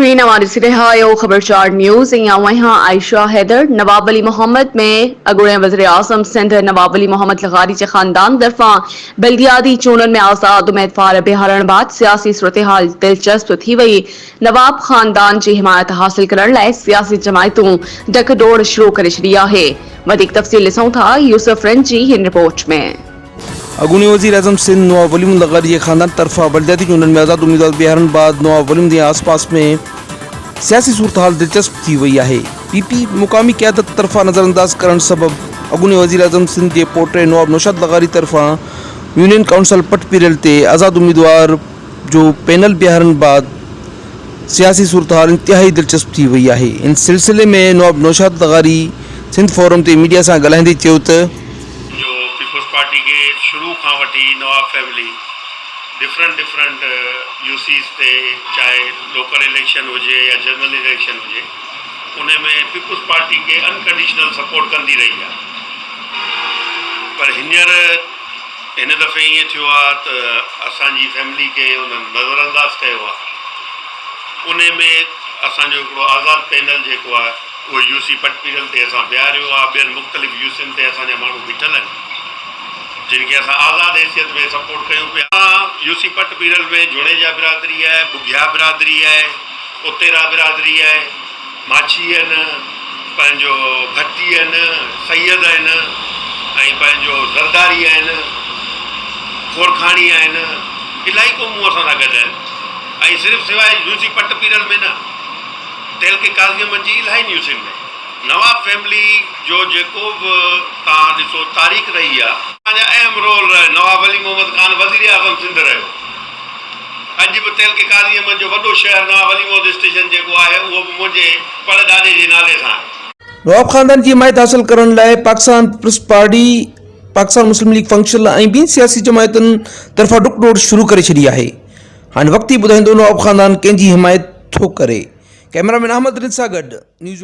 P نواء ڏسي رهيا آهيو خبر چار نيوز ۽ آئون آهيان عائشه حيدر نواب علي محمد ۾ اڳوڻي وزيراعظم سنڌ نواب علي محمد لغاري جي خاندان طرفان بلدياتي چونڊن ۾ آزاد اميدوار بيهارڻ بعد سياسي صورتحال دلچسپ ٿي وئي نواب خاندان جي حمايت حاصل ڪرڻ لاء سياسي جماعتون ڊڪ ڊوڙ شروع ڪري ڇڏي آهي وڌيڪ تفصيل ڏسون ٿا يوسف رنجي هن رپورٽ ۾ اڳوڻي وزيراعظم سنڌ نواب ولي محمد لغاري جي خاندان طرفان بلدياتي چونڊن ۾ آزاد اميدوار بيهارڻ بعد نواب ولي محمد جي آس پاس ۾ سياسي صورتحال دلچسپ ٿي وئي آهي. پي پي مقامي قيادت طرفان نظرانداز ڪرڻ سبب اڳوڻي وزيراعظم سنڌ جي پوٽي نواب نوشاد لغاري طرفان يونين ڪائونسل پٽ پيرل تي آزاد اميدوار جو پينل بيهارڻ بعد سياسي صورتحال انتهائي دلچسپ ٿي وئي آهي. ان سلسلي ۾ نواب نوشاد لغاري سنڌ فورم تي ميڊيا سان ڳالهائيندي چيو ته. جو پيپلز پارٽي کي شروع کان وٺي Nawab family different different U Cs تي چاهي لوڪل اليڪشن هجي يا جنرل اليڪشن هجي ان ۾ پيپلز پارٽي کي انڪنڊيشنل سپورٽ ڪندي رهي آهي پر هينئر هن دفعي ائين ٿيو آهي ته اسان جي فيملي کي انهن نظر انداز ڪيو آهي ان ۾ اسان جو هڪڙو آزاد پينل جيڪو آهي اهو يو سي پٽپيرل تي اسان بيهاريو آهي، ٻين مختلف يو سين تي اسان جا ماڻهو بيٺل آهن، جن کي اسان آزاد حيثيت ۾ سپورٽ ڪيون پيا. اسان يو سي پٽپيرل ۾ جوڻيجا برادري آهي، ٻگهيا برادري آهي، اتيرا برادري آهي، ماڇي آهن، پنهنجو ڀٽي آهن، سيد آهن ۽ پنهنجو زرداري آهن، کورکاڻي آهن، الاهي قومون اسان سان گڏ آهن ۽ صرف سواء يو سي پٽپيرل ۾ نه، تعلقي ڪاظمن جي الاهي نيوسين ۾. نواب فيملي جو جيڪو به توهان ڏسو تاريخ رهي آ. توهان جا اهم رول رهي نواب علي محمد خان وزير اعظم سنڌ رهيو اڄ به تعلقي ڪاظمن جو وڏو شهر نواب علي محمد اسٽيشن جيڪو آهي اهو به منهنجي پڙ ڏاڏي جي نالي سان آهي. نواب خاندان جي حمايت حاصل ڪرڻ لاء پاڪستان پيپلز پارٽي، پاڪستان مسلم ليگ فنڪشل ۽ ٻين سياسي جماعتن طرفان ڊڪ ڊوڙ شروع ڪري ڇڏي آهي. هاڻي وقت ئي ٻڌائيندو نواب خاندان ڪنهن جي حمايت ٿو ڪري ڪئميرا مين احمد رند سان گڏ نيوز